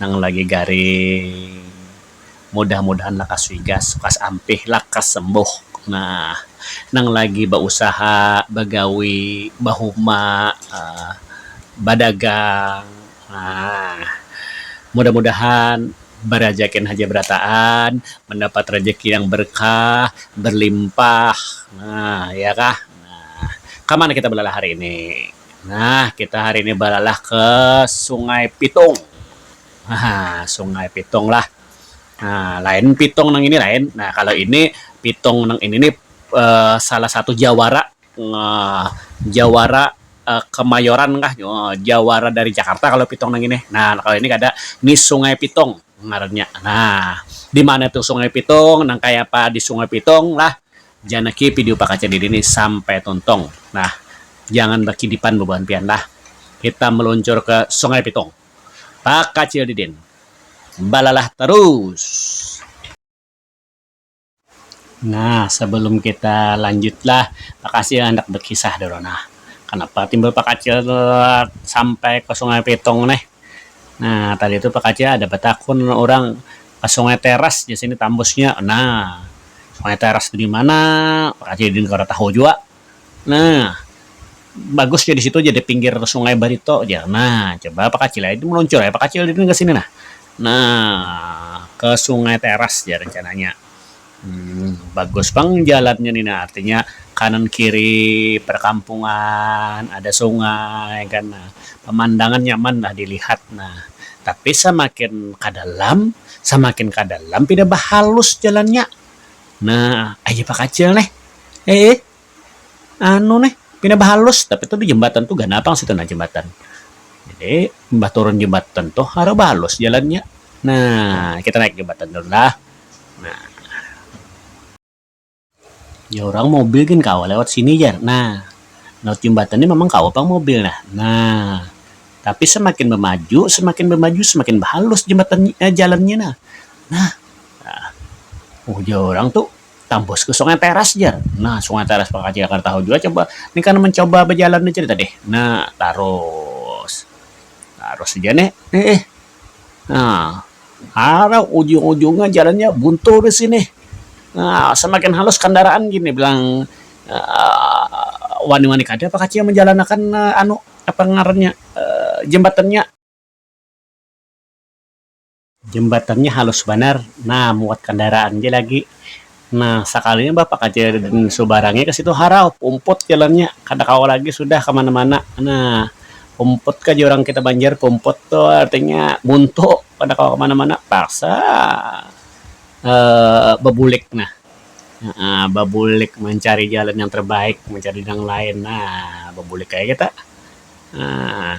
nang lagi garing mudah-mudahan lakas wigas lakas ampih lakas sembuh nah nang lagi bausaha bagawi bahuma um badagang um mudah-mudahan barajakin haja barataan mandapat rajaki yang barkah barlimpah um iya kah um kama nang kita balalah hari ini. Nah, kita hari ini balalah ke Sungai Pitung. Nah, Sungai Pitung lah. Nah, lain Pitung nang ini lain. Nah, kalau ini Pitung nang ini nih uh, salah satu jawara uh, jawara uh, Kemayoran kah uh, jawara dari Jakarta kalau Pitung nang ini. Nah, kalau ini kada ini Sungai Pitung ngarannya. Nah, di mana tuh Sungai Pitung? Nang kayak apa di Sungai Pitung lah? Janaki pidio pakaca diri ni sampai tuntung nah jangan bakidipan bubuhan pian lah kita meluncur ke sungai pitung pakacil didin balalah terus. Nah sebelum kita lanjut lah bakasi handak bekisah dulu nah kenapa timbul pakacil sampai ke sungai pitung nih nah tadi tu pakacil ada batakun urang ke sungai teras jar sini tambusnya nah. Maya teras tu dimana Raja Didin kada tahu jua nah bagus ja disitu ja dipinggir sungai Barito ja nah coba pakacil ai meluncur ai pakacil Didin kesini nah nah ke sungai teras ja rencananya um bagus pang jalannya ni nah artinya kanan kiri perkampungan ada sungai kan nah pemandangan nyaman lah dilihat nah tapi semakin ke dalam samakin ka dalam pina bahalus jalannya. Nah, ai japa kacil neh. Eeh. Anu neh, pina bahalus tapi tuh di jembatan tuh ganal pang situ nah jembatan. Jadi, imbah turun jembatan tuh harau bahalus jalannya. Nah, kita naik jembatan dulu lah. Nah. Ya urang mobil gin kawa lewat sini jar nah, laut jembatan ni mamang kawa pang mobil nah, nah tapi semakin bamaju semakin bamaju semakin bahalus jembatan ni eh jalan nya nah, nah nah ujar urang tu tambus ka sungai teras jar, nah sungai teras pang kacil kada tahu jua coba ni kan mencoba bajalan ni cerita deh, nah tarus, tarus ja ne eh. Nah, ada ujung-ujungnya jalannya buntu di sini. Nah, semakin halus kandaraan gini bilang uh, wani-wani kada apa kacau menjalanakan uh, anu apa ngarannya uh, jembatannya. Jembatannya halus banar. Nah, muat kandaraan je lagi. Nah, sakalinya bapak aja dan saubarangnya ke situ harau, pumput jalannya, kada kawa lagi sudah ka mana-mana. Nah, pumput ka jar urang kita Banjar, pumput tu artinya buntu, kada kawa ka mana-mana, terpaksa babulik nah, babulik mancari jalan yang terbaik, mancari nang lain. Nah, babulik aja kita. Nah.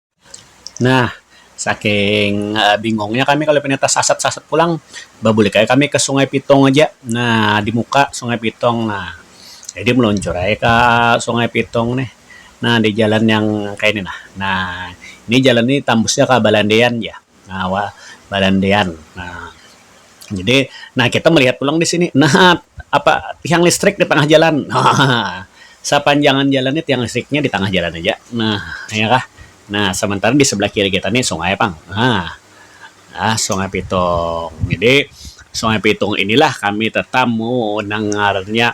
Nah, saking bingungnya kami kalo pinanya tasasat-sasat pulang, babulik aja kami ka Sungai Pitung aja. Nah, di muka Sungai Pitung. Nah, jadi meluncur aja ka Sungai Pitung nih. Nah, di jalan yang kayak ni nah. Nah, ni jalan ni tambusnya ka Balandean jar. nah wa balandian nah jadi nah kita melihat pulang di sini nah apa tiang listrik di tengah jalan nah sapanjangan jalan ni tiang listriknya di tengah jalan aja nah ya kah nah sementara di sebelah kiri kita ni sungai pang nah ah sungai pitung jadi sungai pitung inilah kami tetamu nang ngarannya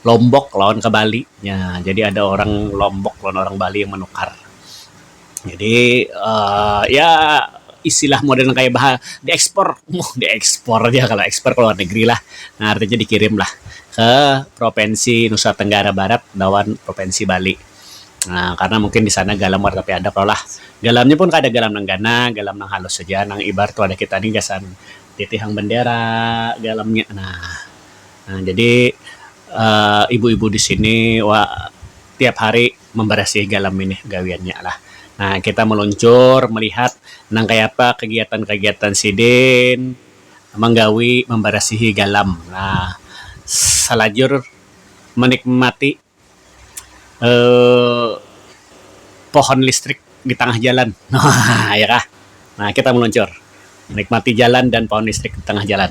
Lombok lawan ke Bali nya jadi ada orang Lombok lawan orang Bali yang menukar jadi Um ya istilah modern kaya bah di ekspor um di ekspor ja kalo ekspor ke luar negeri lah um artinya dikirim lah ke provinsi Nusa Tenggara Barat lawan provinsi Bali Um karna mungkin di sana galam kada tapi ada kalo lah galam nya pun kada galam nang ganal galam nang halus haja nang ibarat wadah kita ni gasan titihang bendera galam nya nah. Nah, jadi um ibu-ibu di sini wa tiap hari mambarasihi galam ini gawiannya lah. Nah, kita maluncur malihat nang kaya apa kagiatan-kagiatan sidin manggawi mambarasihi galam. Nah, salajur manikmati um pohon listrik di tangah jalan. Hahaha iya kah. Nah, kita maluncur manikmati jalan dan pohon listrik di tangah jalan.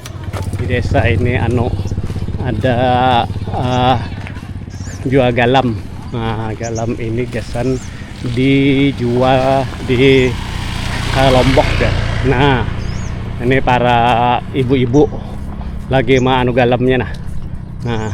di desa ini anu ada uh, jual galam nah galam ini gasan dijual di uh, lombok ya nah ini para ibu-ibu lagi ma anu galamnya nah nah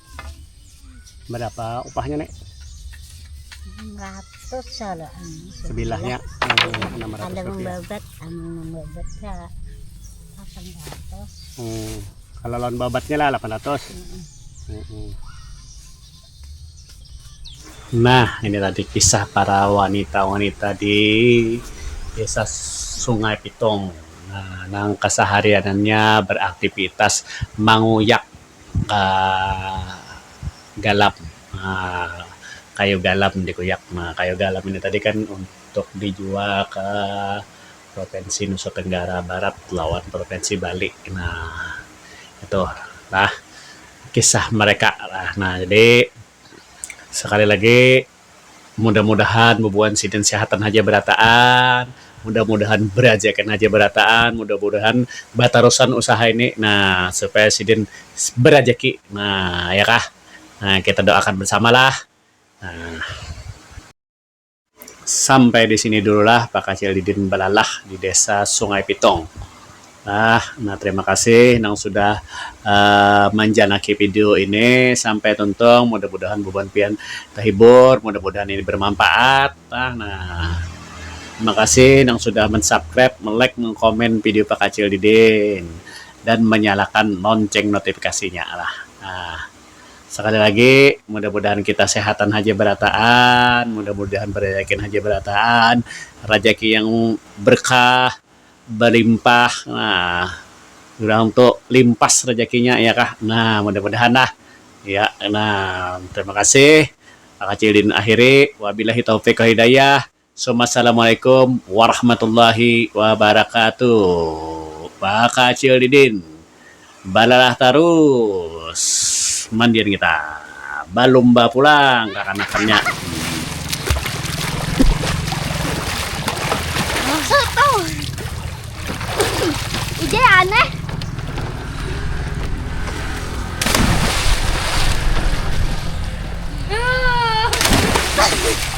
berapa upahnya nek ratus salah sebelahnya enam ratus ada membabat anu membabat ya delapan ratus hmm. kalau lawan babatnya lah delapan ratus nah ini tadi kisah para wanita-wanita di desa Sungai Pitung nah, nang kesehariannya beraktivitas manguyak um galam um kayu galam dikuyak um kayu galam ini tadi kan untuk dijual ke provinsi nusa tenggara barat lawan provinsi bali um itu lah kisah mereka lah jadi sekali lagi. Mudah mudahan bubuhan sidin sehatan haja berataan, mudah mudahan berajakan haja berataan, mudah mudahan batarusan usaha ini nah supaya sidin berajaki nah ya kah nah kita doa akan bersama lah nah. Sampai di sini dulu lah bakacil didin balalah di desa sungai pitung. Nah, nah terima kasih nang sudah manjanaki video ini sampai tuntung, mudah-mudahan bubuhan pian tahibur, mudah-mudahan ini bermanfaat. Nah, nah terima kasih nang sudah mensubscribe, melike, mengkomen video Pakacil Didin dan menyalakan lonceng notifikasinya. Nah, nah sekali lagi mudah-mudahan kita sehatan haja berataan, mudah-mudahan berezakin haja berataan, rajaki yang berkah, balimpah nah urang tu limpas rajakinya iya kah nah mudah-mudahan lah iya nah terima kasih Pak Kacil Din akhiri wabilahi taufik wal hidayah summa assalamualaikum warahmatullahi wabarakatuh Pak Kacil Didin. balalah tarus mandian kita balumba pulang kakanakannya hihihi